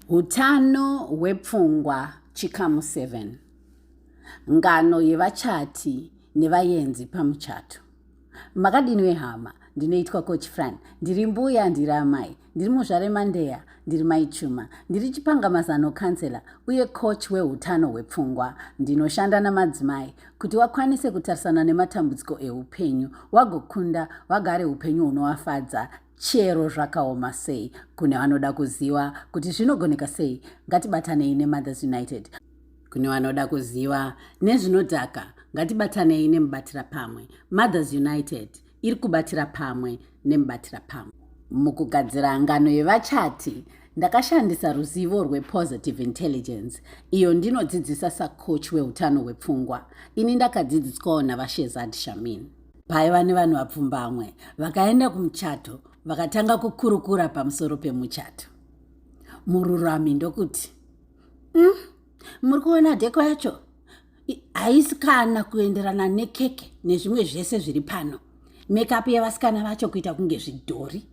Utano hwepfungwa chikamu 7 ngano yevachati nevayenzi pamuchato makadini vehama ndinoitwa coach fran ndiri mbuya ndiri amai ndiri muzvare mandeya ndiri mai chuma ndiri chipanga mazano kansela uye coach weutano hwepfungwa ndinoshanda namadzimai kuti wakwanise kutarisana nematambudziko eupenyu wagokunda wagare upenyu hunovafadza Chero zvakaoma sei, kune vanoda kuziva kuti zvinogoneka sei, ngatibatanei neMothers United. Kune vanoda kuziva nezvinodhaka, ngatibatanei neMubatira Pamwe. Mothers United iri kubatira pamwe neMubatira Pamwe. Mukugadzira ngano yevachati, ndakashandisa ruzivo rwePositive Intelligence, iyo ndinodzidzisa sacoach wehutano hwepfungwa. Ini ndakadzidziswawo naVaShehzad Shamin. paiva nevanhu vapfumbamwe vakaenda kumuchato vakatanga kukurukura pamusoro pemuchato mururami ndokuti mm, muri kuona dheko yacho haisi kana kuenderana nekeke nezvimwe zvese zviri pano mekapu yevasikana vacho kuita kunge zvidhori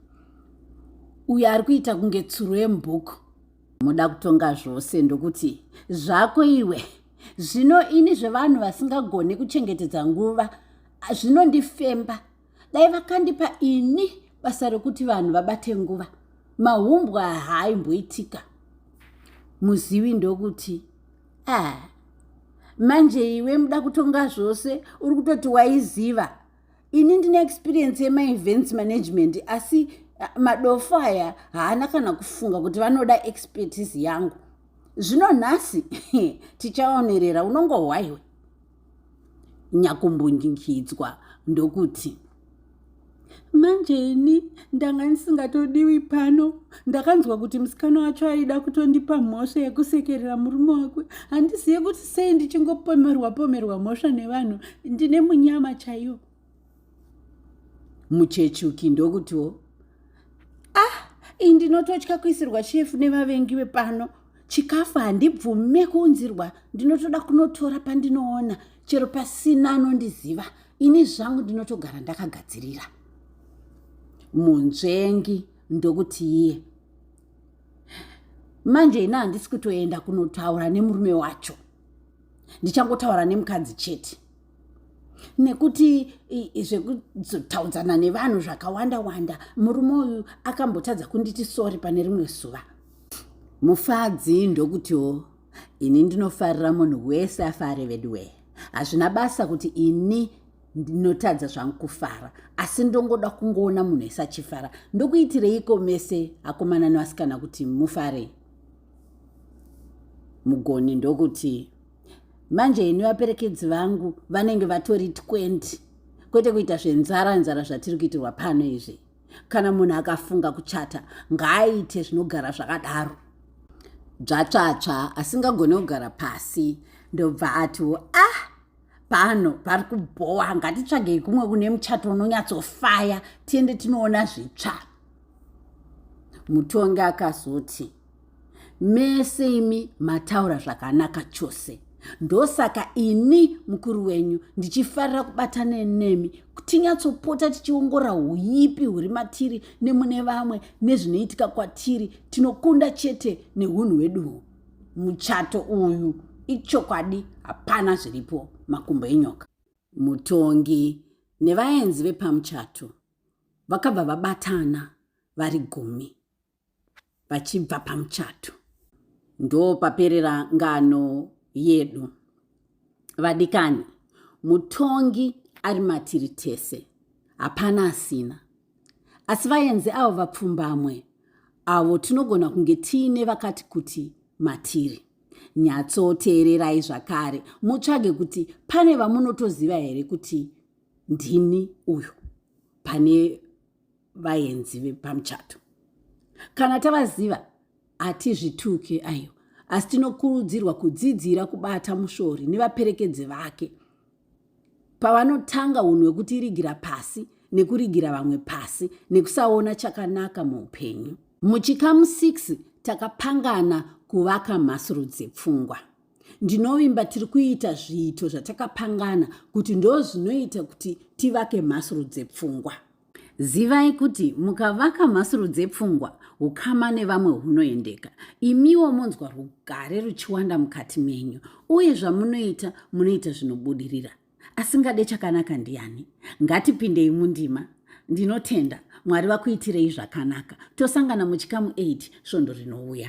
uyo ari kuita kunge tsuro yemubhuku moda kutonga zvose ndokuti zvako iwe zvino ini zvevanhu vasingagone kuchengetedza nguva zvinondifemba dai vakandipa ini basa rekuti vanhu vabate nguva mahumbwa haaimboitika muzivi ndokuti a ah, manje iwe muda kutonga zvose uri kutoti waiziva ini ndine experience yemaevents management asi eh, madofo aya haana kana kufunga kuti vanoda expertise yangu zvino nhasi tichaonerera unongohwaiwe nyakumbunjingidzwa ndokuti manje ini ndanga ndisingatodiwi pano ndakanzwa kuti musikana wacho aida kutondipa mhosva yekusekerera murume wake handizive kuti sei ndichingopomerwa pomerwa mhosva nevanhu ndine munyama chaiyo muchechuki ndokutiwo ah iyi ndinototya kuisirwa chefu nevavengi vepano chikafu handibvume kuunzirwa ndinotoda kunotora pandinoona chero pasina anondiziva ini zvangu ndinotogara ndakagadzirira munzvengi ndokuti iye manje ini handisi kutoenda kunotaura nemurume wacho ndichangotaura nemukadzi chete nekuti zvekuzotaudzana nevanhu zvakawanda wanda murume uyu akambotadza kunditi sori pane rimwe zuva mufadzi ndokutiwo ini ndinofarira munhu wese afare veduwee hazvina basa kuti ini ndinotadza zvangu kufara asi ndongoda kungoona munhu ese achifara ndokuitireiko mese akomana nevasikana kuti mufare mugoni ndokuti manje ini vaperekedzi vangu vanenge vatori 20 kwete kuita zvenzara nzara zvatiri kuitirwa pano izvi kana munhu akafunga kuchata ngaaite zvinogara zvakadaro dzvatsvatsva asingagone kugara pasi ndobva atiwo ah pano pari kubhowa ngatitsvagei kumwe kune muchato unonyatsofaya tiende tinoona zvitsva mutongi akazoti mese imi mataura zvakanaka chose ndosaka ini mukuru wenyu ndichifarira kubatana nemi tinyatsopota tichiongora uipi huri matiri nemune vamwe nezvinoitika kwatiri tinokunda chete neunhu hweduwo muchato uyu ichokwadi hapana zviripo makumbo enyoka mutongi nevaenzi vepamuchato vakabva vabatana vari gumi vachibva pamuchato ndopaperera ngano yedu vadikani mutongi ari matiri tese hapana asina asi vaenzi avo vapfumbamwe avo tinogona kunge tiine vakati kuti matiri nyatsoteererai zvakare mutsvage kuti pane vamunotoziva here kuti ndini uyo pane vaenzi vepamuchato kana tavaziva hatizvituke ayo asi tinokurudzirwa kudzidzira kubata mushori nevaperekedzi vake pavanotanga unhu hwekuti irigira pasi nekurigira vamwe pasi nekusaona chakanaka muupenyu muchikamu 6 takapangana kuvaka mhasuru dzepfungwa ndinovimba tiri kuita zviito zvatakapangana kuti ndo zvinoita kuti tivake mhasuru dzepfungwa zivai kuti mukavaka mhasuru dzepfungwa ukama nevamwe hunoendeka imiwo monzwa rugare ruchiwanda mukati menyu uye zvamunoita munoita zvinobudirira asingade chakanaka ndiani ngatipindei mundima ndinotenda mwari vakuitirei zvakanaka tosangana muchikamu 8 svondo rinouya